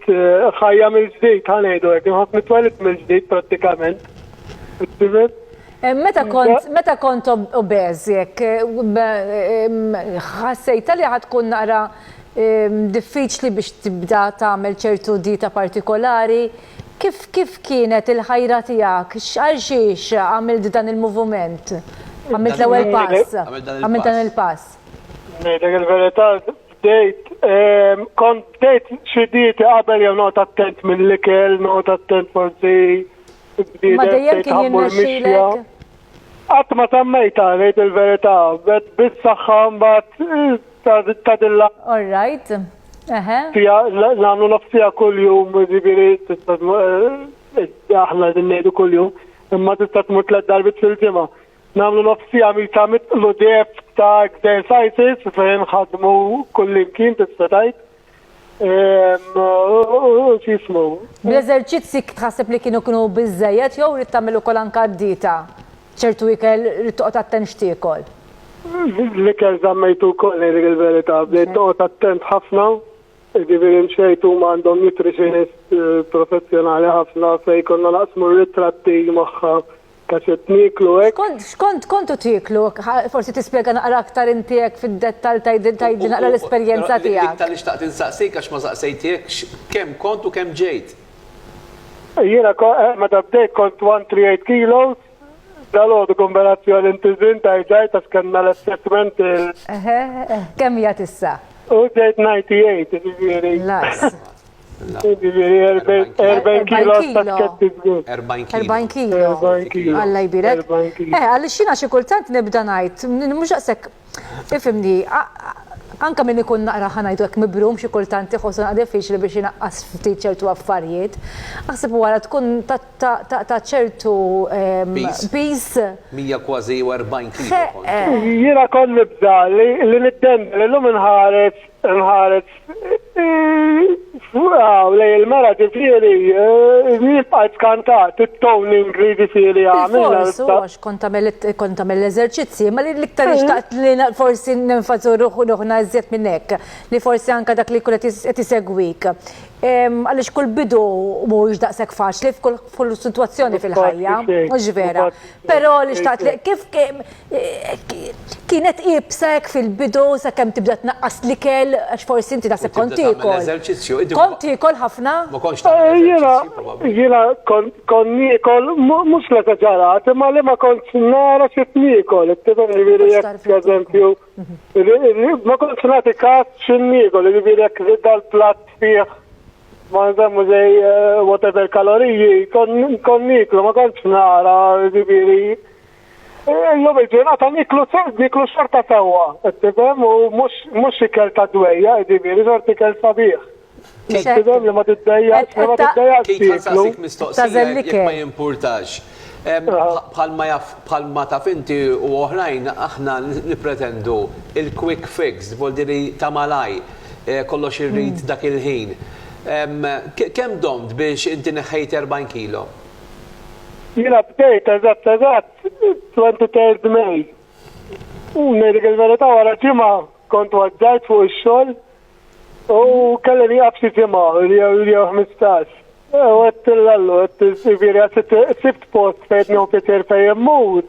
ħajja mill-ġdid, ħanejdu hekk, inħoss nitwelid mill-ġdid prattikament. Eh, meta kont meta kont obeż jekk eh, ħassejta li ħad tkun naqra diffiċli biex tibda tagħmel ċertu dita partikolari. Kif kif kienet il-ħajra tiegħek? X'għal xiex għamilt dan il-moviment? Għamilt l-ewwel pass. Għamilt dan il-pass. Ngħidlek il-verità Bdejt, ehm, kont bdejt xi dieti qabel jew noqgħod attent mill-ikel, noqgħod attent forsi Ma dejjem kien jirnexxilek. Qatt ma tammejta ngħid il-verità, bet bis-saħħa mbagħad ta' dilla. All right. Eħe. Fija nagħmlu nofsija kuljum, ġifieri tista' eh, aħna din ngħidu kuljum, imma tista' tmur tliet darbit fil-ġimgħa. Nagħmlu nofs siegħa mita mitlu deb ta' exercises fejn ħadmu kullimkien tista' tgħid. U x'jismu. Bl-eżerċizzi tħasseb li kienu kienu biżejjed jew rid tagħmel ukoll anke d-dieta? ċertu ikel rid toqgħod attent x'tiekol. L-ikel żammejtu wkoll ngħidlek il-verità, bdejt noqgħod attent ħafna, jiġifieri mxejt huma għandhom nutritionist professjonali ħafna fejn konna naqsmu r-ritratti magħha Ta' se tnieklu hekk? Xkont xkont tkontu tieklu? Ħa forsi tispjega naqra aktar inti hekk fid-dettall tgħidil tgħidli naqra l-esperjenza tiegħek. Dik tal-li xtaqt insaqsik għax ma saqsejthekx, kemm kont u kemm ġejt? Jiena ko eh meta bdejt kont 138 kilos, dalgħodu konverazzjoni inti żin tajt ġajt għax kellna l-assessment il. Eħe, kemm jgħat issa? U ġejt 98, jiġifieri. Naqs. Jiġifieri 40 kilo pakketti żgur. 40 kilo. 40 kilo. 40 kilo. Alla jbirek. 40 kilo. Eh, għaliex jiena xi kultant nibda ngħid, mhux daqshekk, ifhimni, anke min ikun naqra ħa ngħidu hekk mibrum xi kultant iħossu naqra diffiċli biex inaqqas ftit ċertu affarijiet. Aħseb wara tkun ta' ċertu piż. 100 kważi jew 40 kilo. Jiena kont nibda li niddendel illum inħares. Nħares Wow, lej il-mara ġifiri, jibqa eh, skantat, it-ton ingridi fili għamil. Għax kont għamil l-eżerċizzi, ma li l-iktar eh. ixtaqt li forsi n-nfazu ruħu ruħna zjed minnek, li forsi anka dak li kunet jtisegwik. Għalix kull bidu mux daqsek faċli f'kull situazzjoni fil-ħajja, mux vera. Pero li xtaqt li kif Kienet iebsa hekk fil-bidu sakemm tibda tnaqqas l-ikel għax forsi inti naħseb kont tiekol. Kont tiekol ħafna? Jiena jiena kont niekol mhux l-eżaġerat imma li ma kontx nara xi qed niekol. Tifhem jiġifieri jekk pereżempju ma kontx nagħti kas xi niekol, jiġifieri jekk żied dal-platt fih ma nsemmu xejn whatever kaloriji kont nieklu ma kontx nara jiġifieri Illum il-ġurnata niklu niklu xorta sewwa, qed tifhem, u mhux mhux ikel ta' dwejjaq, jiġifieri xorta ikel sabiħ. Qed tifhem li ma tiddejjaqx li ma tiddejjaqx tieklu. Keith ħa nsaqsik mistoqsija jekk ma jimpurtax. Bħalma jaf bħalma taf inti u oħrajn aħna nippretendu il-quick fix, li voldi li ta' malaj, kollox irrid dak il-ħin. Kemm domt biex inti neħħejt 40 kilo? Jiena bdejt eżatt eżatt 23 May. Ngħidlek il-verità wara ġimgħa kont waġġajt fuq ix-xogħol u kelli nieqaf xi ġimgħa jew ħmistax. U għedt lil Allu, għedt jiġifieri għax sibt post fejn qed nieħu pjaċir fejn immur.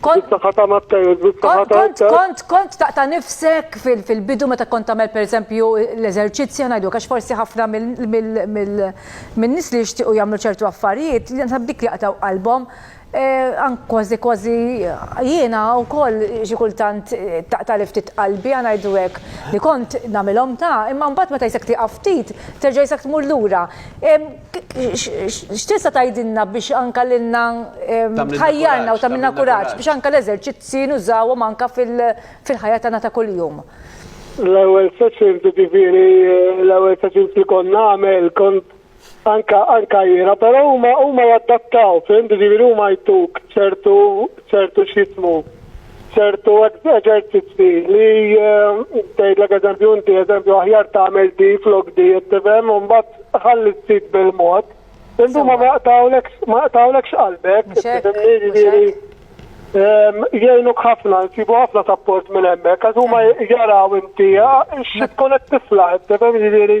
Kont kont kont taqta' nifsek fil-bidu meta kont tagħmel pereżempju l-eżerċizzji ngħidu għax forsi ħafna min-nies li jixtiequ jagħmlu ċertu affarijiet li naħseb dik li jaqtgħu qalbhom kważi kważi jiena wkoll xi kultant taqtagħli ftit qalbi ħa ngħidu hekk li kont nagħmilhom ta' imma mbagħad meta jisek tieqaf ftit terġa' jisek tmur lura. X'tista' tgħidilna biex anke lilna tħajjarna u tagħmilna kuraġġ biex anke l-eżerċizzji nużawhom anke fil-ħajja tagħna ta' kuljum? L-ewwel se ċirdu ġifieri l-ewwel se ċirdu li kont nagħmel kont anke għajjiera, però huma huma jadattaw, fimt, ġifieri huma jtuk ċertu ċertu x'jismu ċertu eżerċizzi li eh, tgħidlek eżempju inti eżempju aħjar tagħmel di flok di tifhem u mbagħad ħalli sid bil-mod. Indu ma maqtawlek ma maqtawlek x'qalbek, tifhimni jgħinuk ħafna, nsibu ħafna sapport minn hemmhekk, għax huma jaraw inti x'tkun qed tiflaħ, tifhem jiġifieri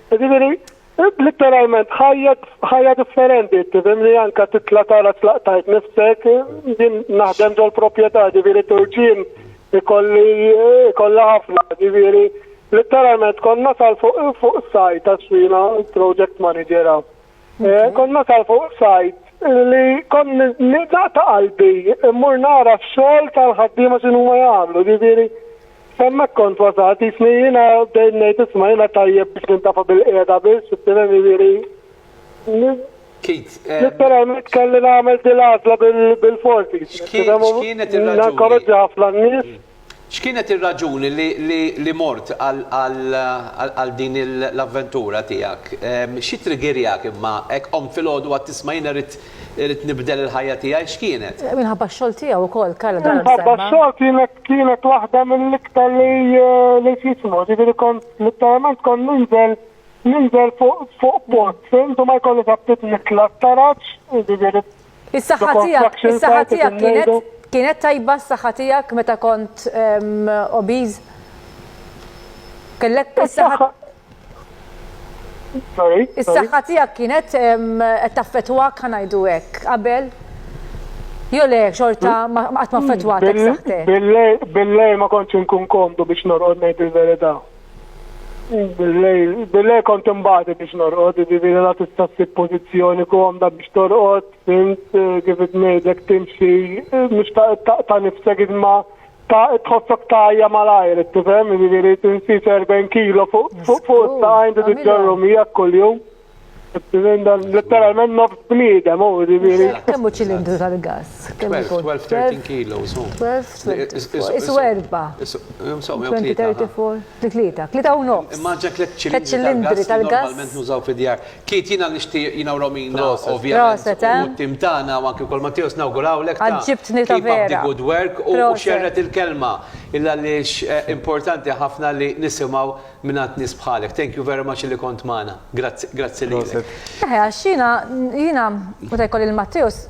Jiġifieri, litteralment ħajja ħajja differenti, tifhimni anke titla' tara tlaqtajt nifsek, jien naħdem ġol-proprjetà, ġifieri turġien ikolli ikollha ħafna, ġifieri litteralment kont nasal fuq fuq sajt għax jiena project manager hawn. Eh, kont nasal fuq sajt li kont naqta' qalbi mmur nara x-xogħol tal-ħaddiema x'inhuma jagħmlu, ġifieri Hemmhekk kont wasalt, jisni jiena bdejt ngħid isma' jiena tajjeb biex nintafa' bil-qiegħda biss, tifhem jiġifieri. Kid. Letteralment kelli nagħmel din l-għażla bil-fors jiġifieri, tifhem. X'kienet ir-raġuni? Ninkoraġġi ħafna n-nies. X'kienet ir-raġuni li mort għal din l-avventura tiegħek? X'ittriggerjak imma hekk qomt filgħodu u għedt isma' jiena rrid Irrid nibdel il-ħajja tiegħi x'kienet? Minħabba x-xogħol tiegħu wkoll Karl Gard semma. Minħabba x-xogħol kienet kienet waħda mill-iktar li li x'jismu, jiġifieri kont litteralment kont ninżel ninżel fuq fuq pot, fimt u ma jkollix aptit nitla' t-taraġ, jiġifieri Is-saħħa tiegħek, is-saħħa tiegħek kienet kienet tajba s-saħħa tiegħek meta kont obese? Kellek is-saħħa Sorry. Is-saħħa tiegħek kienet qed taffettwak ħa ngħidu hekk qabel? Jo le xorta qatt ma affettwatek saħħtek. Billej ma kontx inkun komdu biex norqod ngħid il-verità. Billej kont imbagħad biex norqod, jiġifieri la tista' ssib pożizzjoni komda biex torqod, fint kif ngħidlek timxi mhux ta' nifsek iżma Ta' tħossok tajja malajr, tifhem, jiġifieri tinsi 40 kilo fuq fuq fuq ta' għajndu tiġġorru miegħek kuljum. Letteralment nofs bniedem, u jiġifieri. Kemm hu ċilindru tal-gass? 12-13 kilos. 12-13. Isu erba'. 20-34. Fi tlieta, tlieta u nofs. Imma għandx hekk tliet ċilindri tal-gass li normalment nużaw fid-djar. Keith, jiena nixtieq, jiena u Romina ovvjament, u t-tim tagħna u anki wkoll Matteus nawgurawlek ta' keep up the good work u xerred il-kelma il għaliex importanti ħafna li nisimgħu mingħand nies bħalek. Thank you very much li kont magħna. Grazzi, grazzi lilek. Eħe, għax jiena, jiena meta jkolli lil Matteus,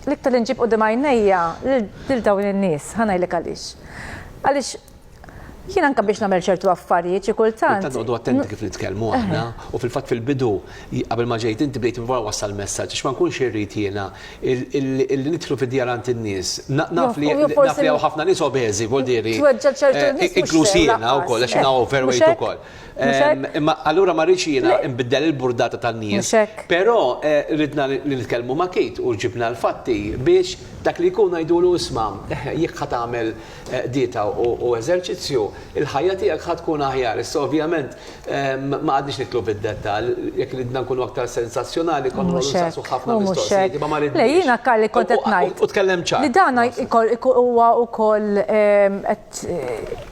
l-iktar li nġib quddiem għajnejja lil dawn in-nies. Ħa ngħidlek għaliex. Għaliex Jien anke biex nagħmel ċertu affarijiet xi kultant. Kultant noqogħdu attenti kif nitkellmu aħna u fil-fatt fil-bidu qabel ma ġejt inti bdejt wara wassal messaġġ għax ma nkunx irrid jiena li nidħlu fid-djar għand in-nies. Naf li hawn ħafna nies obeżi voldieri. Tweġġa' ċertu nies. Inkluż jiena wkoll għax jiena overweight ukoll. Imma allura ma rridx jiena nbiddel il-burdata tan-nies. Però ridna li nitkellmu ma' Kate u ġibna l-fatti biex dak li jkun ngħidulu isma' jekk ħa tagħmel qdita u eżerċizzju, il-ħajja tiegħek ħa tkun aħjar. Issa ovvjament ma qagħdniex nidħlu fid-dettall, jekk ridna nkunu aktar sensazzjonali konna noqogħdu nsaqsu ħafna mistoqsijiet imma ma ridniex. Le jiena Karl li kont qed ngħid. U tkellem ċar. Li dan huwa wkoll qed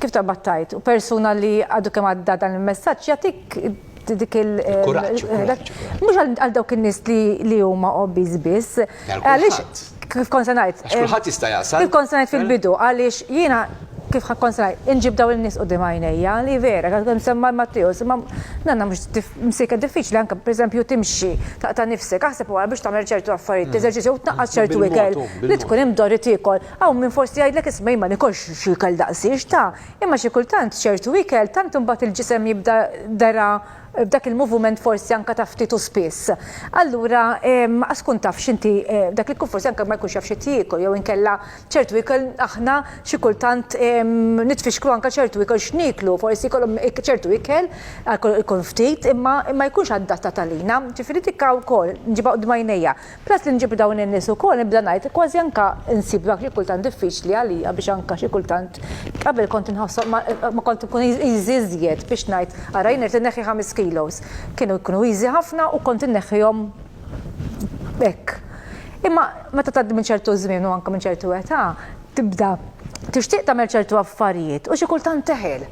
kif taqbad tgħid, u persuna li għadu kemm għadda dan il-messaġġ jagħtik dik il- Il-kuraġġ, il-kuraġġ. Mhux għal għal dawk in-nies li li huma obbiż biss. Għal Għaliex kulħadd. kif kont se ngħid, Għax kulħadd jista' jaqsam. kif kont se ngħid fil-bidu, għaliex jiena kif ħa kont se ngħid, inġib dawn in-nies quddiem għajnejja, li vera, għad kemm semma Matteus, imma nanna mhux dif- msiket diffiċli anke pereżempju timxi, taqta' nifsek, aħseb wara biex tagħmel ċertu affarijiet, teżerċizzja u tnaqqas ċertu Bil-mod, ikel u, li bil-mod. tkun imdorri tiekol. Hawn min forsi jgħidlek isma' jien ma nikolx xi ikel daqshiex ta'. Imma xi kultant ċertu ikel tant imbagħad il-ġisem jibda dera b'dak il-movument forsi anke ta' ftit u spiss. Allura ma tkun tafx inti dak li jkun forsi anke ma jkunx jaf x'qed jiekol jew inkella ċertu ikel aħna xi kultant nitfixklu anke ċertu ikel x'nieklu. Forsi jkollhom ċertu ikel alkoħol ikun ftit imma ma jkunx adattat għalina. Ġifieri dik wkoll nġibha quddiem għajnejja. Peress li nġib dawn in-nies ukoll, nibda ngħid, kważi anke nsib dak li kultant diffiċli għalija biex anke xi kultant, qabel kont inħossom ma ma kont inkun easy iżjed biex ngħid, ara jien irid inneħħi ħames kilos. Kienu jkunu easy ħafna u kont inneħħihom hekk. Imma meta tgħaddi minn ċertu żmien u anke minn ċertu età, Tibda tixtieq tagħmel ċertu affarijiet u xi kultant teħel.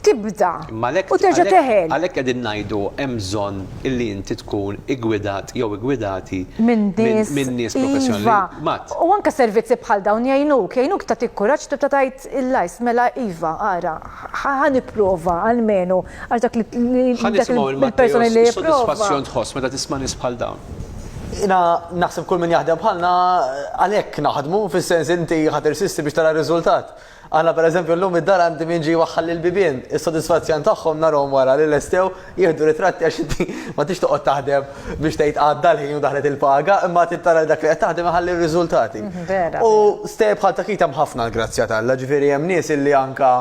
Tibda u terġa' teħel. Għalhekk qegħdin ngħidu hemm bżonn illi inti tkun iggwidat jew iggwidati minn nies professjonali. Iva. U anke servizzi bħal dawn jgħinuk, jgħinuk tagħtik kuraġġ tibda tgħid il-lajs, mela iva, ara, ħa nipprova almenu Għax dak il-persona li jipprova. Soddisfazzjon tħoss meta tisma' nies bħal dawn. Jiena naħseb kull min jaħdem bħalna għalhekk naħdmu, fis-sens inti ħadd irsisti biex tara r-riżultat. Aħna pereżempju llum id-dar għandi min ġie jwaħħal li l-bibien, is-sodisfazzjon tagħhom narahom wara li lestew jieħdu ritratti għax inti ma tridx toqgħod taħdem biex tgħid għadda l-ħin u daħlet il-paga, imma trid tara li dak li qed taħdem iħalli r-riżultati. U stejjer bħal ta' Keith hemm ħafna l-grazzja t'Alla, ġifieri hemm nies illi anke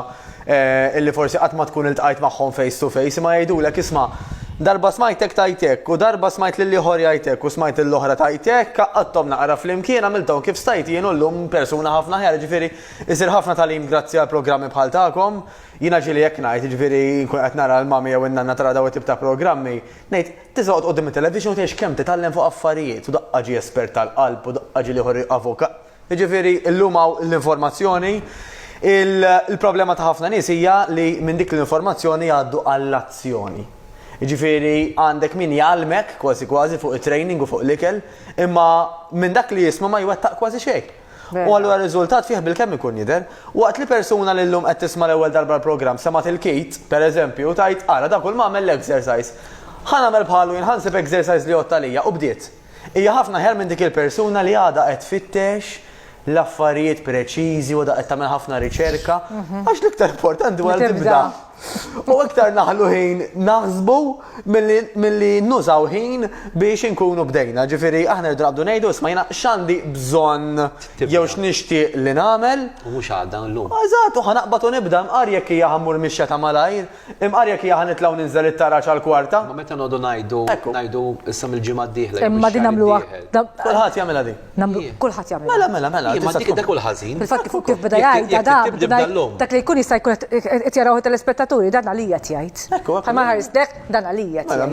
illi forsi qatt ma tkun iltqajt magħhom face to face, imma jgħidulek, isma', darba smajtek tgħid hekk, u darba smajt lil ieħor jgħid hekk, u smajt lil oħra tgħid hekk, għaqqadthom naqra flimkien, għamilthom kif stajt jien u llum persuna ħafna aħjar, jiġifieri jsir ħafna tagħlim grazzi għal programmi bħal tagħkom. Jiena ġieli hekk ngħid, jiġifieri nkun qed nara l-mommy jew in-nanna tara dawn it-tip ta' programmi, ngħid, tista' toqgħod quddiem it-television u tgħix kemm titgħallem fuq affarijiet, u daqqa ġie espert tal-qalb, u daqqa ġie l-ieħor avukat. Jiġifieri llum hawn l-informazzjoni, il-problema ta' ħafna nies hija li minn dik l-informazzjoni jgħaddu għall-azzjoni. Jiġifieri għandek min jgħallmek kważi kważi fuq it-training u fuq l-ikel, imma minn dak li jisma' ma jwettaq kważi xejn. U allura r-riżultat fih bilkemm ikun jidher. Waqt li persuna li llum qed tisma' l-ewwel darba l-programm semgħet il-kit, pereżempju, u tgħid, ara dak u l-m'għamel l-exercise. Ħa nagħmel bħalu jien, ħa nsib exercise li jgħodd għalija, u bdiet. Hija ħafna aħjar minn dik il-persuna li għadha qed tfittex l-affarijiet preċiżi u għadha qed tagħmel ħafna riċerka, għax l-iktar importanti huwa li tibda. U iktar naħlu ħin naħsbu milli nużaw ħin biex inkunu bdejna. Ġifieri aħna rridu naqbdu ngħidu smajna x'għandi bżonn jew x'nixtieq li nagħmel. U mhux għada llum. Eżatt, u ħanaqbad u nibda nqar jekk hija ħammur mixja ta' malajr. Imqarjek hija ħa nitlgħu ninżel it-taraġ għall-kwarta. Ma meta noqogħdu ngħidu ngħidu issa mill-ġimgħa d-dieħla. Imma din nagħmluha. Kulħadd jagħmilha din. Kulħadd jagħmilha. Mela, mela, mela. Imma dik dak hu l-ħażin. Fil-fatt kif beda jgħidha dan, dak li jkun jista' jkun qed jaraw it-telespettaturi dan għalija qed jgħid. Ħa ma ħares lejh dan għalija qed jgħid.